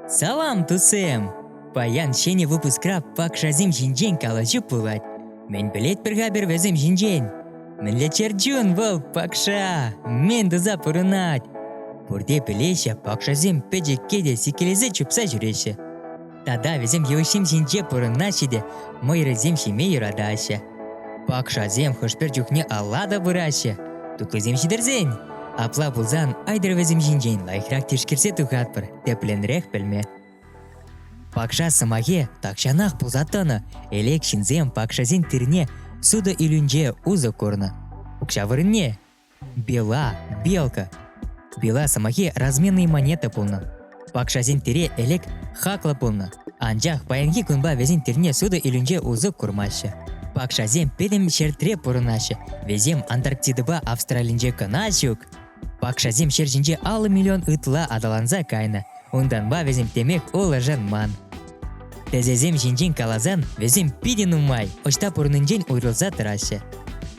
Салам, тусем! Паян ҫӗнӗ выпускра пакшасем ҫинчен калаҫу пулать. Мӗн пӗлетпӗр-ха пӗр вӗсем ҫинчен? Мӗнле чӗрчун вӑл пакша! Мӗн туса пурӑнать! Пурте пӗлеҫҫӗ, пакшасем пӗчӗкке те сиккелесе чупса ҫӳреҫҫӗ. Тата вӗсем йывӑҫҫим ҫинче пурӑнаҫҫӗ те мӑйрӑсем ҫиме юратаҫҫӗ. Пакшасем хӑш-пӗр чухне алла та пыраҫҫӗ, туклисем ҫитӗрсен. Апла пулсан айтӑр вӗсем ҫинчен лайӑхрах тишкерсе тухатпӑр, тӗплӗнрех пӗлме. Пакша сӑмахе тахҫанах пулса тӑнӑ, элек ҫынсем пакшасен тирне сутӑ илӳнче усӑ курнӑ. Укҫа вырӑнне Бела, белка. Бела сӑмахи разменные монета пулнӑ. Пакшасен тире элек хаклӑ пулнӑ, анчах паянхи кунпа вӗсен тирне сутӑ илӳнче усӑ курмаҫҫӗ. Пакшасем пӗтӗм ҫӗртре пурӑнаҫҫӗ, вӗсем Антарктидӑпа Австралинче кӑна ҫук. Пакшасем ҫӗр ҫинче аллӑ миллион ытла аталанса кайнӑ, унтанпа вӗсем темех улшӑнман. Тӗсесем ҫинчен каласан, вӗсем питӗ нумай, ӑҫта пурӑннинчен уйрӑлса тӑраҫҫӗ.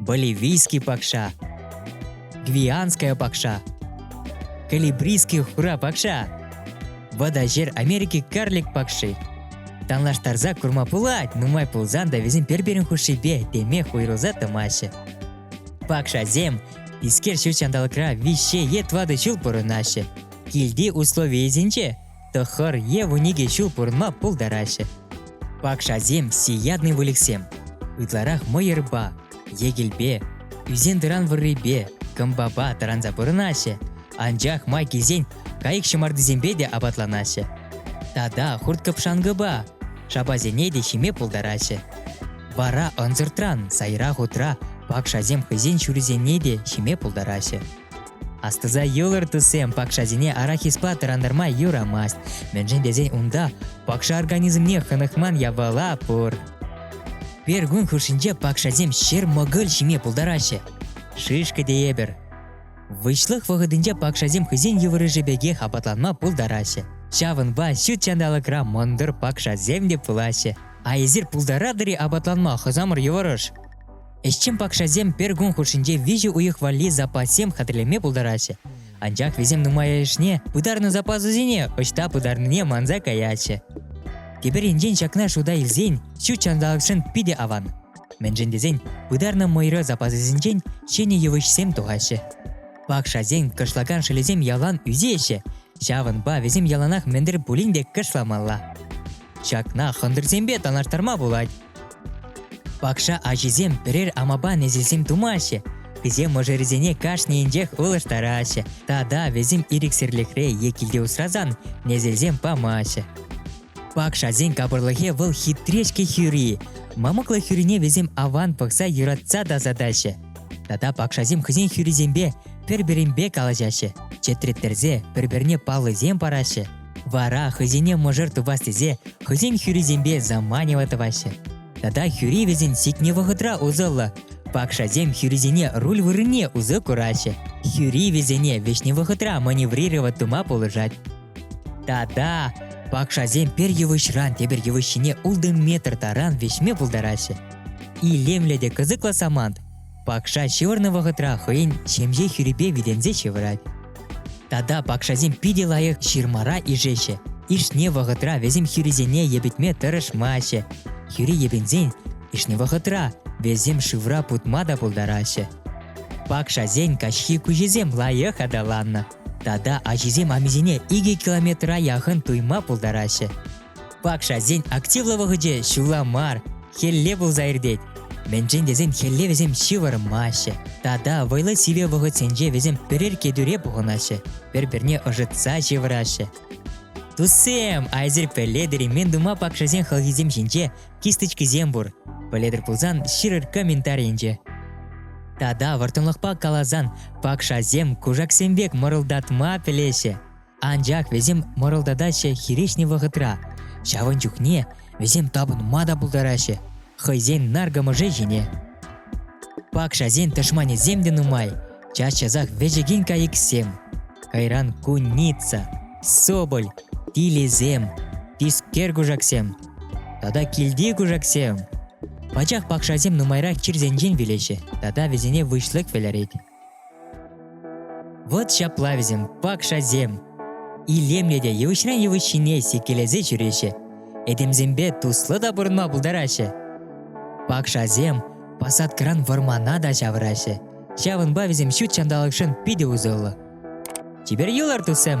боливийский пакша гвианская пакша калибрийский хура пакша водожер Америки карлик пакши танлаштарса курма пулать нумай пулсан да вӗсем пӗр-пӗрин хушшипе теме хуйрӑлса тӑмаҫҫӗ пакшасем искер ҫут ҫанталӑкра виҫҫе е тӑватӑ ҫул пурӑнаҫҫӗ килти условийӗсенче тӑхӑр е вун икӗ ҫул пурӑнма пултараҫҫӗ. Пакшасем сиятный выльӑхсем. Ытларах мӑйӑрпа, йӗкелпе, ӳсен-тӑран вӑррипе, кӑмпапа тӑранса пурӑнаҫҫӗ, анчах май килсен кайӑк ҫӑмартисемпе те апатланаҫҫӗ. Тата хурт-кӑпшанкӑпа, шапасене те ҫиме пултараҫҫӗ. Вара ӑнсӑртран сайра хутра пакшасем хӑйсен ҫурисене те ҫиме пултараҫҫӗ. Астӑса юлӑр, туссем, пакшасене арахиспа тӑрантарма юрамасть. Мӗншӗн тесен унта пакша организмне хӑнӑхман япала пур. Пергун хушшинче пакшасем ҫӗр-мӑкӑль ҫиме пултараҫҫӗ. Шишкӗ тейӗпӗр. Выҫлӑх вӑхӑтӗнче пакшасем хӑйсен йывӑрӑшӗ пекех апатланма пултараҫҫӗ. Ҫавӑнпа ҫут ҫанталӑкра мӑнтӑр пакшасем те пулаҫҫӗ. А эсир пултаратӑр-и апатланма хӑсамӑр йывӑрӑш? Ӗҫчен пакшасем пӗр кун хушшинче виҫӗ уйӑх валли запассем хатӗрлеме пултараҫҫӗ. Анчах вӗсем нумайӑшне пытарнӑ запасусене ӑҫта пытарнине манса каятчӗ. Тепӗр енчен ҫакна шута илсен ҫут ҫанталӑкшӑн питӗ аван. Мӗншӗн тесен пытарнӑ мӑйра запасӗсенчен ҫӗнӗ йывӑҫсем тухаҫҫӗ. Пакшасен кӑшлакан шӑлӗсем ялан ӳсеҫҫӗ, Ҫавӑнпа вӗсем яланах мӗн-тӗр пулин те кӑшламалла. Ҫакна хӑнтӑрсемпе танлаштарма пулать. Пакша ачисем пӗрер амапа несӗлсем тумаҫҫӗ, Вӗсем мӑшӑрӗсене кашнийӗнчех ылӑштараҫҫӗ тата вӗсем ирӗксӗрлӗхре е килте усрасан несӗлсем памаҫҫӗ. Пакшасен капӑрлӑхӗ вӑл хитре-ҫке хӳри. Мамӑклӑ хӳрине вӗсем аван пӑхса юратса тасатаҫҫӗ. Тата пакшасем хӑйсен хӳрисемпе пӗр-пӗринпе калаҫаҫҫӗ, чӗтреттерсе пӗр-пӗрне паллисем параҫҫӗ. Вара хӑйсене мӑшӑр тупас тесе хӑйсен хӳрисемпе заманево тӑваҫҫӗ. Тата хӳри вӗсен сикнӗ вӑхӑтра усӑллӑ. Пакшасем хӳрисене руль вырӑнне усӑ кураҫҫӗ. Хӳри вӗсене вӗҫнӗ вӑхӑтра маневрировать тума пулӑшать. Тата пакшасем пӗр йывӑҫран тепӗр йывӑҫ ҫине ултӑ метр таран вӗҫме пултараҫҫӗ. Илемлӗ те кӑсӑклӑ самант пакша ҫывӑрнӑ вӑхӑтра хӑйӗн ҫемҫе хӳрипе витӗнсе ҫывӑрать. Тата пакшасем питӗ лайӑх ҫырмара ишеҫҫӗ. Ишне вӑхӑтра вӗсем хӳрисене йӗпӗтме тӑрӑшмаҫҫӗ. Хӳри йӗпӗнсен ишне вӑхӑтра вӗсем шывра путма та пултараҫҫӗ. Пакшасен каҫхи куҫӗсем лайӑх аталаннӑ. Тата ачисем амисене икӗ километра яхӑн туйма пултараҫҫӗ. Пакшасен активлӑ вӑхӑчӗ ҫулла мар, хӗлле пулса иртет. Мӗншӗн тесен хӗлле вӗсем ҫывӑрмаҫҫӗ тата вӑйлӑ сивӗ вӑхӑтсенче вӗсем пӗрер кӗтӳре пухӑнаҫҫӗ, пӗр-пӗрне ӑшӑтса ҫывӑраҫҫӗ. Туссем, айсӑр пӗле деремен тума пакшасен хӑлхисем ҫинче кисточкисем пур. Пӗлетӗр пулсан ҫырӑр комментарийӗнче. Тата вӑрттӑнлӑхпа каласан, пакшасем кушаксем пек мӑрӑлтатма пӗлеҫҫӗ. Анчах вӗсем мӑрӑлтатаҫҫӗ хирӗҫнӗ вӑхӑтра. Ҫавӑн чухне вӗсем тапӑнма та пултараҫҫӗ хӑйсен наркӑмӑшӗ ҫине. Пакшасен тӑшманӗсем те нумай, час-часах вӗҫекен кайӑксем. Кайран куница, соболь, тилӗсем, тискер кушаксем тата килти кушаксем. Пачах пакшасем нумайрах чирсенчен вилеҫҫӗ тата вӗсене выҫлӑх вӗлерет. Вот ҫапла вӗсем, пакшасем. Илемлӗ те йывӑҫран йывӑҫ ҫине сиккелесе ҫӳреҫҫӗ. Этемсемпе туслӑ та пурӑнма пултараҫҫӗ. Пакшасем посадкӑран вӑрмана та ҫавӑраҫҫӗ. Ҫавӑнпа вӗсем ҫут ҫанталӑкшӑн питӗ усӑллӑ. Теперь юлар, туссем.